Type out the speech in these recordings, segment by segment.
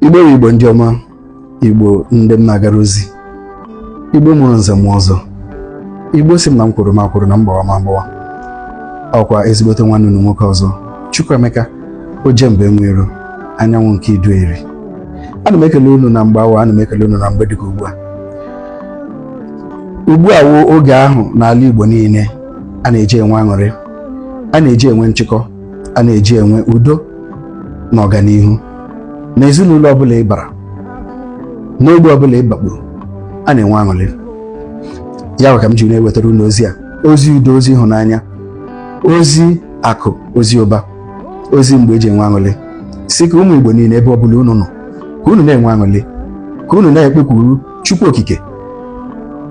igbo wụ igbo ndị ọma igbo ndị m na-agara ozi igbo mụrụ nze mụọ ọzọ igbo sị m na m kwuru ma kwuru na mgbawa ma mgbawa ọkwa ezigbote nwanne unu nwoke ọzọ Chukwuemeka Ojemba Enweiro anyanwụ nke Idu Eri ana m ekele unu na mgbe awa ana m ekele unu na mgbe dịka ugbu a ugbu a wụ oge ahụ n'ala Igbo niile a na-eji enwe aṅụrị a na-eji enwe nchịkọ a na-eji enwe udo na ọganihu n'ezinụlọ ọbụla ị bara n'ogbe ọbụla ị bakpuru a na-enwe aṅụrị ya wụ ka m ji na-ewetara unu ozi a ozi udo ozi ịhụnanya ozi akụ ozi ụba ozi mgbe e ji enwe aṅụrị sị ka ụmụ Igbo niile ebe ọbụla unu nọ ka unu na-enwe aṅụrị ka unu na-ekpekwuru Chukwu Okike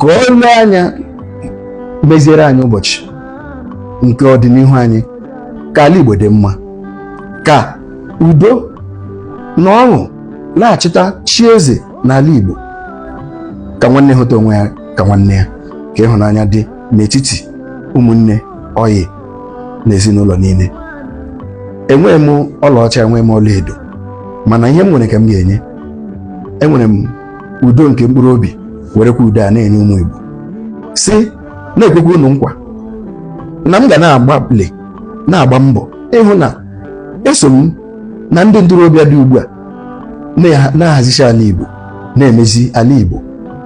ka ọ lee anya meziere anyị ụbọchị nke ọdịnihu anyị ka ala Igbo dị mma ka udo na ọṅụ laghachita chi eze n'ala Igbo ka nwanne hụta onwe ya ka nwanne ya ka ịhụnanya dị n'etiti ụmụnne ọyị na ezinụlọ niile enweghị m ọlaọcha enweghị m ọlaedo mana ihe m nwere ka m ga-enye enwere m udo nke mkpụrụ obi werekwa udo a na-enye ụmụ Igbo si na-ekwekwa unu nkwa na m ga na-agbalị na-agba mbọ ịhụ na eso m na ndị ntorobịa dị ugbu a na-ahazicha ala Igbo na-emezi ala Igbo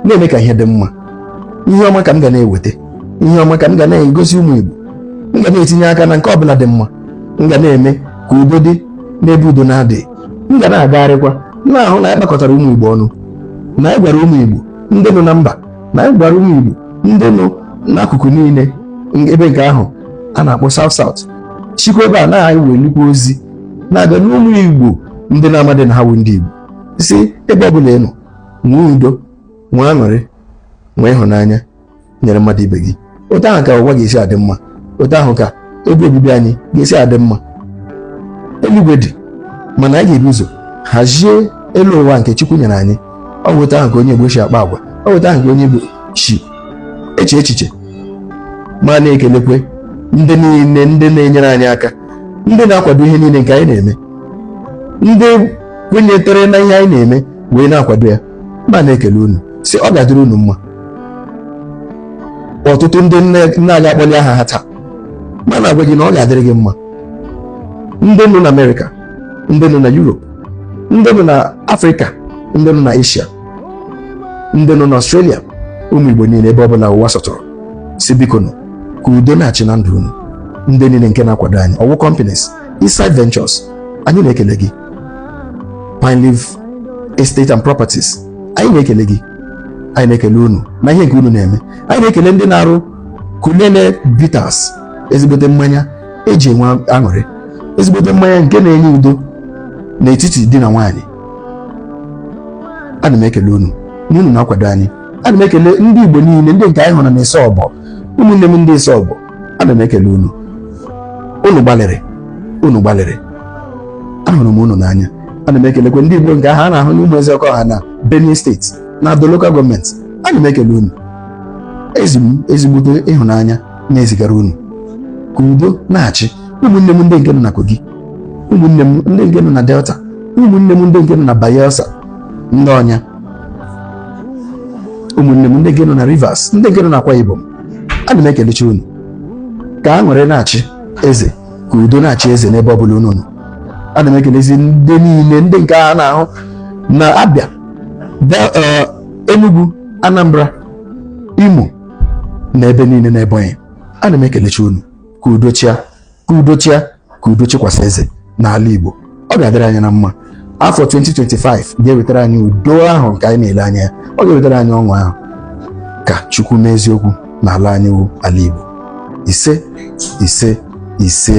na-eme ka ihe dị mma ihe ọma ka m ga na-eweta ihe ọma ka m ga na-egosi ụmụ Igbo m ga na-etinye aka na nke ọbụla dị mma m ga na-eme ka udo dị n'ebe udo na-adịghị m ga na-agagharịkwa na-ahụ na anyị kpakọtara ụmụ Igbo ọnụ na anyị gwara ụmụ Igbo ndị nọ na mba na anyị gwara ụmụ Igbo ndị nọ n'akụkụ niile ebe nke ahụ a na-akpọ South South sikwa ebe a na anyị wee nnukwu ozi na-abịa n'ụmụ Igbo ndị na-amadị na ha wụ ndị Igbo sị ebe ọ bụla ị nọ nwee udo nwee aṅụrị nwee ịhụnanya nyere mmadụ ibe gị otu ahụ ka ụwa ga-esi adị mma otu ahụ ka ebe obibi anyị ga-esi adị mma eluigwe dị mana anyị ga-ebu ụzọ hazie elu ụwa nke Chukwu nyere anyị ọ bụ otu ahụ ka onye Igbo si akpa agwa ọ bụ otu ahụ ka onye Igbo si eche echiche ma na-ekelekwe ndị niile ndị na-enyere anyị aka ndị na-akwado ihe niile nke anyị na-eme ndị kwenyetere n'ihe anyị na-eme wee na-akwado ya ma na-ekele unu sị ọ ga-adịrị unu mma ọtụtụ ndị m na-aga akpọli aha ha taa ma na-agwa gị na ọ ga-adịrị gị mma ndị nọ na amerịka ndị nọ na yurop ndị nọ na afrịka ndị nọ na eshia ndị nọ na ọstrelia ụmụ igbo niile ebe ọ bụla ụwa sọtụrụ sị biko nụ ka udo na-achị na ndụ unu ndị niile nke na-akwado anyị ọ wụ companies Eastside Ventures anyị na-ekele gị Pineleaf Estate and Properties anyị na-ekele gị anyị na-ekele unu na ihe nke unu na-eme anyị na-ekele ndị na-arụ Kulele Bitters ezigbote mmanya eji enwe aṅụrị ezigbote mmanya nke na-enye udo n'etiti di na nwaanyị ana m ekele unu na unu na-akwado anyị ana m ekele ndị Igbo niile ndị nke anyị hụrụ na Isobo ụmụnne m ndị Isobo ana m ekele unu unu gbalịrị unu gbalịrị ahụrụ m unu n'anya ana m ekelekwe ndị Igbo nke ahụ a na-ahụ n'Ụmụezeọkọha na Benue steeti na Ado lokal gọọmenti ana m ekele unu ezi m ezigbote ịhụnanya na-ezigara unu ka udo na-achị ụmụnne m ndị nke nọ na Kogi ụmụnne m ndị nke nọ na Delta ụmụnne m ndị nke nọ na Bayelsa ndị Onya ụmụnne m ndị nke nọ na Rivers ndị nke nọ na Akwa Ibom ana m ekelechi unu ka aṅụrị na-achị eze ka udo na-achị eze n'ebe ọ bụla unu nọ ana m ekelezi ndị niile ndị nke a na-ahụ na Abia eh, Enugu Anambra Imo na ebe niile na Ebonyi ana m ekelechi unu ka udo chịa ka udo chịa ka udo chịkwasị eze n'ala Igbo ọ ga-adịrị anyị na mma afọ 2025 ga-ewetara anyị udo ahụ nke anyị na-ele anya ya ọ ga-ewetara anyị ọṅụ ahụ ka Chukwu mezie okwu n'ala anyị wụ ala Igbo ise ise ise